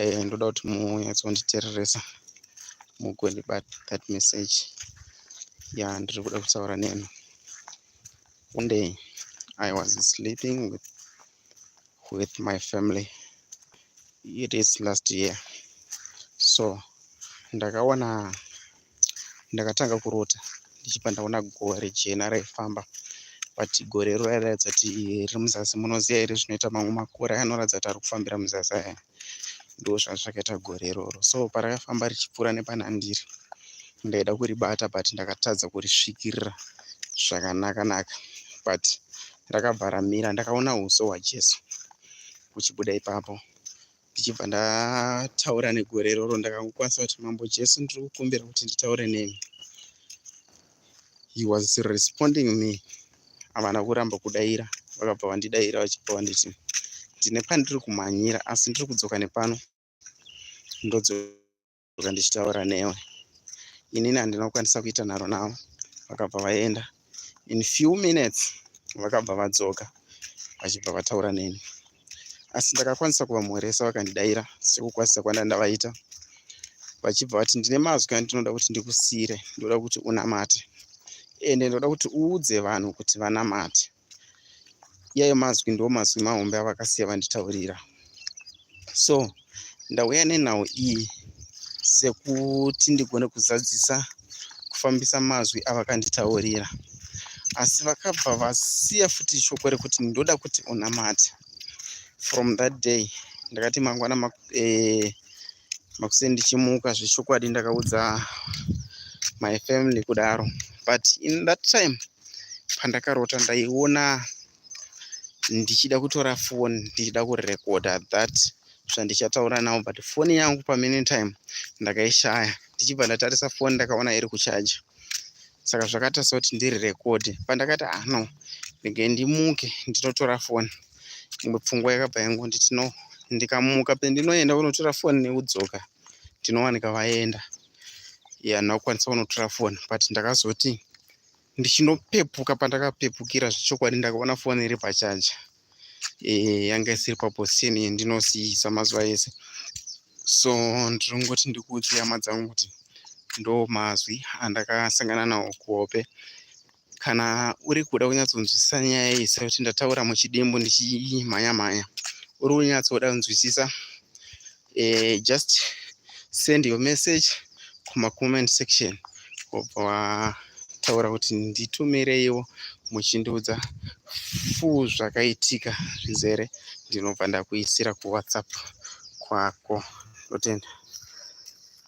eh, ndoda kuti munyatsonditereresa mugondibata that message ya ndiri kuda kutaura nemi one day i was sleeping with, with my family it is last year so ndakaona ndakatanga kurota ndichibva ndaona gore jena raifamba but gore iro rairatidza kuti riri muzasi munoziva here zvinoita mamwe makore anoratidza kuti ari kufambira muzasi aya ndo zvanga zvakaita gore iroro so parakafamba richipfuura nepanandiri ndaida kuribata but ndakatadza kurisvikirira zvakanaka naka but rakabva ramira ndakaona uso hwajesu kuchibuda ipapo ndichibva ndataura negore iroro ndakangokwanisa kuti mambo jesu ndiri kukumbira kuti nditaure nemi he was responding me havana kuramba kudaira vakabva vandidaira vachibva vanditi ndine pandiri kumhanyira asi ndiri kudzoka nepano ndodzoka ndakabva ndichitaura newe inini handina kukwanisa kuita nharo navo vakabva vaenda in few minutes vakabva vadzoka vachibva vataura neni asi ndakakwanisa kuvamhoresa vakandidaira sekukwazisa kwanda ndavaita vachibva vati ndine mazwi andinoda kuti ndikusire ndoda kuti unamate ende ndoda kuti uudze vanhu kuti vanamate iyayo mazwi ndo mazwi mahombe avakasiya vanditaurira so ndauya nenhau iyi sekuti ndigone kuzadzisa kufambisa mazwi avakanditaurira asi vakabva vasiya futi shoko rekuti ndoda kuti unamate from that day ndakati mangwana eh, makuseni ndichimuka zvechokwadi ndakaudza my family kudaro but in that time pandakarota ndaiona ndichida kutora foni ndichida kurekoda that zvandichataura nawo but foni yangu pamene time ndakaishaya ndichibva ndatarisa foni ndakaona iri kuchaja saka zvakaita sekuti ndiri rekodi pandakati ano ah, ndege ndimuke ndinotora foni imwe pfungwa yakabva yangonditi no ndikamuka pendinoenda kunotora foni nekudzoka ndinowanika vaenda ya ndakukwanisa kunotora foni but ndakazoti ndichinopepuka pandakapepukira zvechokwadi ndakaona foni iri pachaja e, eh, yanga isiri paposition yendinosiisa mazuva ese so ndinongoti ndikuudze hama dzangu kuti ndo mazwi andakasangana nawo kuhope kana uri kuda kunyatsonzwisisa nyaya iyi sekuti ndataura muchidimbu ndichimhanya mhanya uri kunyatsoda kunzwisisa eh, just send your message kumacomment section wobva wataura kuti nditumireiwo muchindiudza fu zvakaitika zvizere ndinobva ndakuisira kuwhatsapp kwako ndotenda